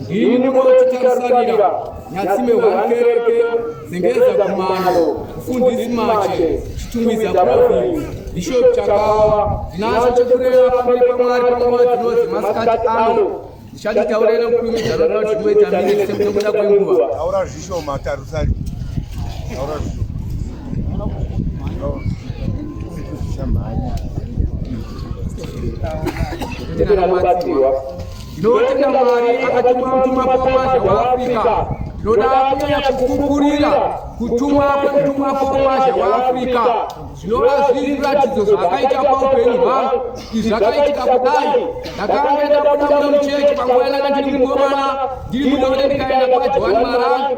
Ini munotitarira nyatsime wankereke zengeza kumano mfundisi mache chitumbiza province bishop chakawa ndinacho chekureva pamberi pamwari panguva dzino dzemasikati ano ndichaditaurira kukurumidza noda kuti muita mine semtomuda kwenguva taura zvishoma tarusari taura zvishoma Thank you. Tinotenda Mwari akatuma mutumwa Pawasha waAfrica. Tinoda kunyanya kukukurira kutumwa kwemutumwa Pawasha waAfrica zvinova zviri zviratidzo zvakaita paupenyu hwangu izvi zvakaitika kudai ndakanga ndabuda muno muchechi panguva yandanga ndiri mukomana ndiri mudonde ndikaenda kwajohani marangu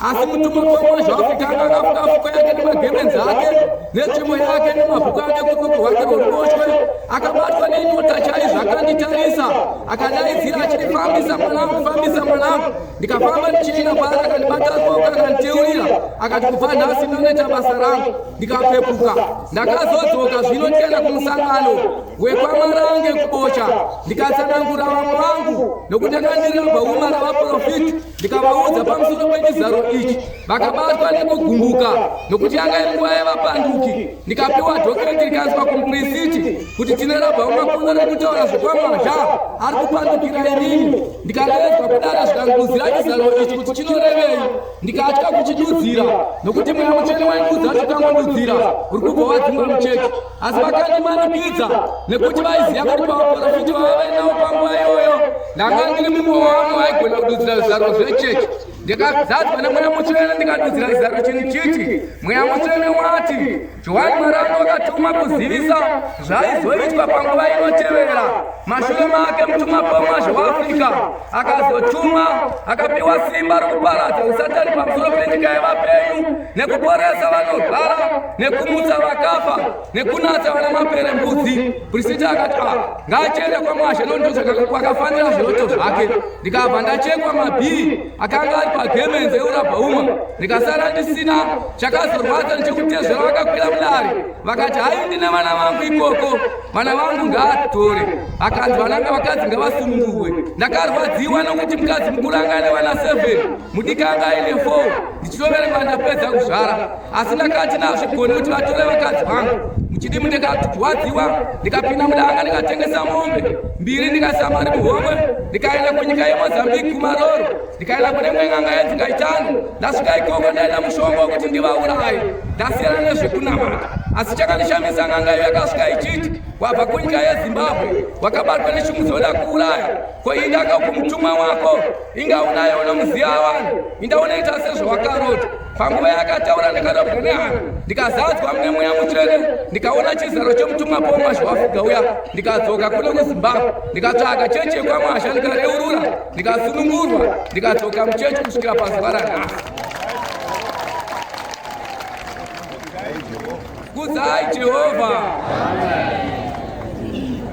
asi mutumwa wemwana zvaafitanga akafuta afuko yake nemagemenzi ake netsvimbo yake nemabhuku ake kukuku hwake rworuboshwe akabatwa nenyota chaizvo akanditarisa akadaidzira achindifambisa mwanangu fambisa mwanangu ndikafamba ndichiina paari akandibata ruoko akanditeurira akati kubva nhasi ndinoita basa rangu ndikapepuka ndakazodzoka zvino ndikaenda kumusangano wekwamarange kubocha ndikatsanangura vamwe vangu nokuti akandiramba uma ravaprofiti ndikavaudza pamusoro pechizaro ichi vakabatwa nekugumbuka nokuti yanga iri nguva yevapanduki ndikapiwa dhokireti rikanzwa kumuprisiti kuti tine rabva umakuno rekutaura zvekwamazha ari kupandukira inini ndikadeedzwa kudara zvikanguzira chizaro ichi kuti chinorevei ndikatya kuchidudzira nokuti mweya muchene wainguza chikangodudzira uri kubva wadzingwa mucheki asi vakandimanikidza nekuti vaiziva kuti pavaporofiti vavavainawo panguva iyoyo ndanga ndiri mumwe wavo vaigona kududzira zvizaro zvechechi ndikazadzwa nemweya mutsvene ndikadudzira zizaro chinhu chiti mweya mutsvene wati johani marano akatuma kuzivisa zvaizoitwa panguva inotevera mashure make mutuma pomwazvo waafrica akazotuma akapiwa simba rokuparadza usatani pamusoro penyika yevapenyu nekuporesa vanorwara nekumutsa vakafa nekunatsa vana mapere mbudzi prisiti akati a ah, ngaachiende kwamwashe nondozvakafanira zviroto zvake ndikabva ndachekwa mabhii akanga ari pagemenzi eurabhauma ndikasara ndisina chakazorwadza ndichikutezvera vakakwira mudari vakati hai ndine vana vangu ikoko vana vangu ngaatore akanzi vananga vakadzi ngavasunungurwe ndakarwadziwa nokuti mukadzi mukuru anga ane vana 7 mudiki anga aine 4 ndichitoverenga ndapedza kuzvara asi ndakati nazvigoni kuti vatore vakadzi vangu muchidimu ndikatwadziwa ndikapinda mudanga ndikatengesa mombe mbiri ndikasamari muhomwe ndikaenda kunyika yemozambique kumaroro ndikaenda kune mwe ng'anga yenzi ngaitano ndasvika ikoko ndaenda mushongo wekuti ndivaurayi ndasiyana nezvekunamata asi chakandishamisa ng'anga iyo yakasvika ichiti wabva kunyika yezimbabwe wakabatwa nechimudzoda kuuraya koindaka kumutumwa wako inga unayo unomuziva vanhu inda unoita sezvawakarota panguva yakataura ndakadabwa nehana ndikazadzwa mune mweya mutsvene ndikaona chizaro chemutumwa pomwa zvawafuga uya ndikadzoka kuno kuzimbabwe ndikatsvaga chechi yekwamasha ndikareurura ndikasunungurwa ndikadzoka muchechi kusvikira pazuva ranhasi kudzai jehovha Amen.